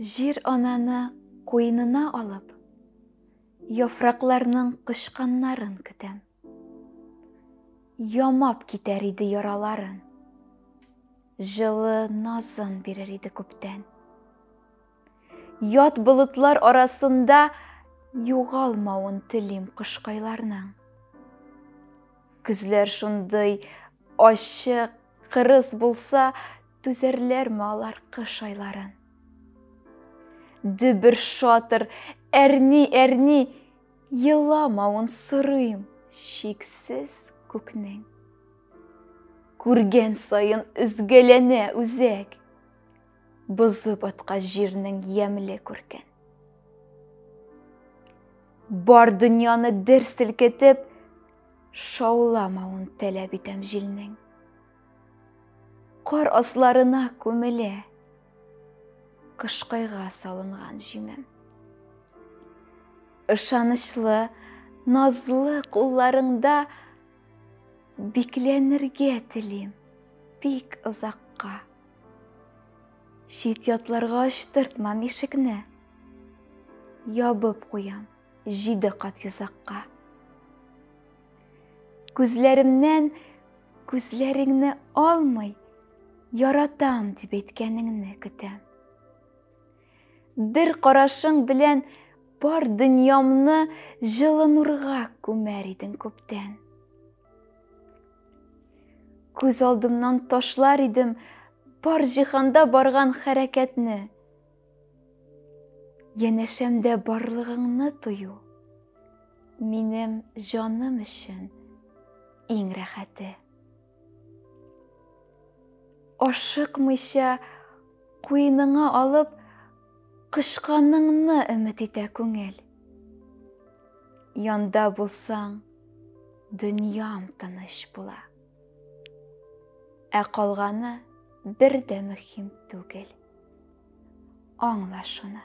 Җир ананы куенына алып, яфракларның кычканнарын көтәм. Ямап китәр иде яраларын. Җылы назын бирер иде күптән. Ят болытлар арасында югалмавын телим кошкайларның. Көзләр шундый ачык, кырыс булса, түзәрләрме алар кыш айларын? Дөбер шатыр, әрни-әрни, еламавын сорыйм шиксез күкнең. Күргән саен өзгәләнә үзәк. Бозы баткач җирнең ямьле күркен. Бар дөньяны дер селкетеп, шауламавын таләп итәм җилнең. Кар асларына күмелә кышкайга салынган җимем. Ышанычлы, назлы кулларыңда бикләнергә телим бик озакка. Чит ятларга ачтыртмам ишекне. Ябып куям җиде кат йозакка. Күзләремнән күзләреңне алмый, яратам дип әйткәнеңне көтәм. Бер карашың белән бар дөньямны җылы нурга күмәр идең күптән. Күз алдымнан ташлар идем бар җиһанда барган хәрәкәтне. Янәшәмдә барлыгыңны тою. Минем җаным өчен иң рәхәте. Ашыкмыйча куеныңа алып Кочканыңны өмет итә күңел. Янда булсаң, дөньям тыныч була. Ә калганы бер дә мөһим түгел. Аңла шуны.